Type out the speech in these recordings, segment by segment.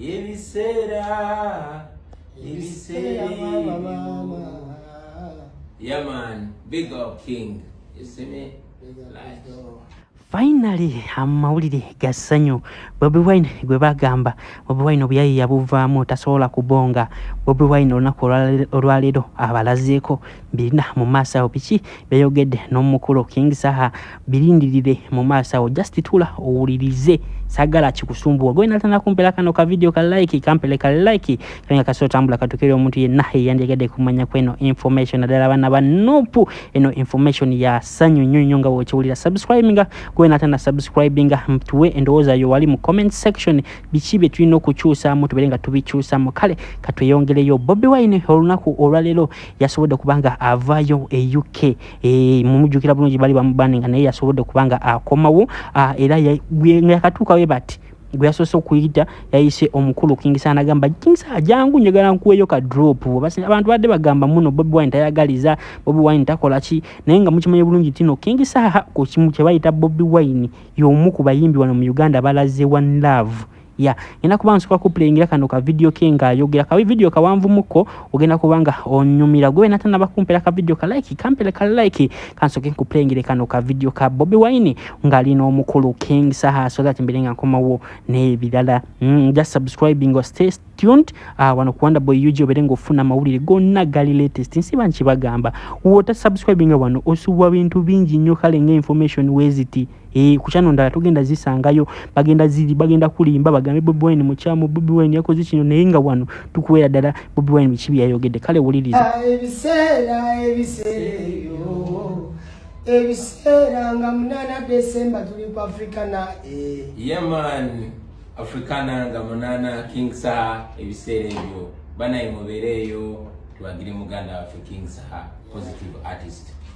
ebiseera ebiseera yamani big up king eseme Finally amawulire ga ssanyu Bobi Wine gwe bagamba Bobi Wine obuyayi yabuvaamu tasobola kubonga Bobi Wine olunaku olwaleero abalazeeko birina mu maaso awo biki beyogedde n'omukulu king saha birindirire mu maaso awo just tula owulirize sagala kikusumbuwa gwe natana kumpera kano ka video ka like kampele ka like kanga kaso tambula katukere omuntu yenna eyandegede kumanya kweno information adala bana ba nopu eno information ya sanyu nyo nyo nga wokiwulira subscribing gwe natana subscribing mtuwe endowoza yo wali mu comment section biki bye tulina okukyusa mu tubere nga tubikyusa mu kale katweyongere yo bobi wine olunaku olwalero yasobodde okuba nga avaayo e uk eh, mumujjukira bulungi bali bamubani nga naye yasobodde okuba nga akomawo ah, era nga yakatuuka we bati gwe yasoose okuyita yayise omukulu kingisa nagamba kingisa ajangu njagala nkuweeyo ka drop abantu badde bagamba muno bobi wine tayagaliza bobi wine takola ki naye nga mukimanye bulungi nti no kingisa ku kimu kye bayita bobi wine y'omu ku bayimbi wano mu uganda balaze one love ya ngenda kuba nsoka kuplayingira kano ka video ke ng'ayogera ka video kawanvumuko ogenda kuba nga onyumira gwe wena tanaba kumpera ka video ka like kampera ka like kansoke nkuplayingire kano ka video ka bobi wine ng'ali n'omukulu king saha so that mbere nga nkomawo n'ebirala mm, just subscribing or stay tuned uh, wano kuwanda boy ug obere ng'ofuna amawulire gonna gali latest nsiba nkibagamba wota subscribinga wano osubwa bintu bingi nnyo kale nga information weziti Eh, ku kyano ndala tugenda zisangayo bagenda ziri bagenda kulimba bagambe bobi wine mukyamu bobi wine yakoze kino naye nga wano tukuwera ddala bobi wine biki byeyayogedde kale wuliriza ah, ebiseera ebiseereyo ebiseera nga munana desemba tuli ku africana eh. yeman africana nga munana king saha ebiseera ebyo banaye mubeereeyo tuwagire muganda waffe king saha positive artist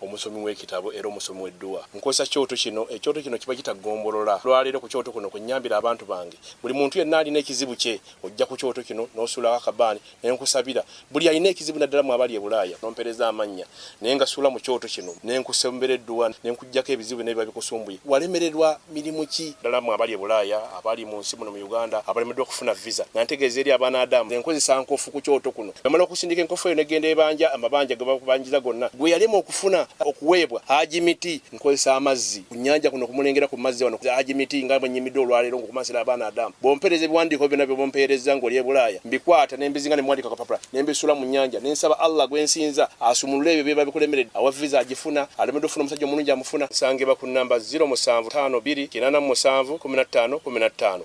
omusomi w'ekitabo era omusomi w'edduwa. Nkozesa kyoto kino, ekyoto kino kiba kita ggombolola. Olwaleero ku kyoto kuno kwe nnyambira abantu bange. Buli muntu yenna alina ekizibu kye, ojja ku kyoto kino n'osuulawo akabaani ne nkusabira. Buli alina ekizibu naddala mmwe abali e Bulaaya n'ompeereza amannya ne ngasuula mu kyoto kino ne nkusombera edduwa ne nkuggyako ebizibu byonna ebiba bikusumbuye walemererwa. mirimu ki? Ddala mmwe abali e Bulaaya, abali mu nsi muno mu Uganda abalemeddwa okufuna viza, nga ntegeeza eri abaana Adamu nze nkozesa nkofu ku kyoto kuno. Namala okusindika enkofu eyo n'eggenda ebanja amabanja ge bakubanjiza gonna gwe yalema okufuna okuweebwa. Haji Miti, Nkozesa amazzi ku nnyanja kuno okumulengera ku mazzi wano. Haji Miti, Nga bwe nnyimidde olwaleero ng'okumansira abaana Adamu, bw'ompeereza ebiwandiiko byonna by'oba ompeerezza ng'oli e Bulaaya, mbikwata nembizinga ne mwandika kapapula nembisula mu nyanja nensaba Allah gwensinza asumulule ebyo byeba bikulemerede awa visa agifuna alemedde ofuna omusajja omulungi amufuna nsangibwa ku namba 0752 877 15 15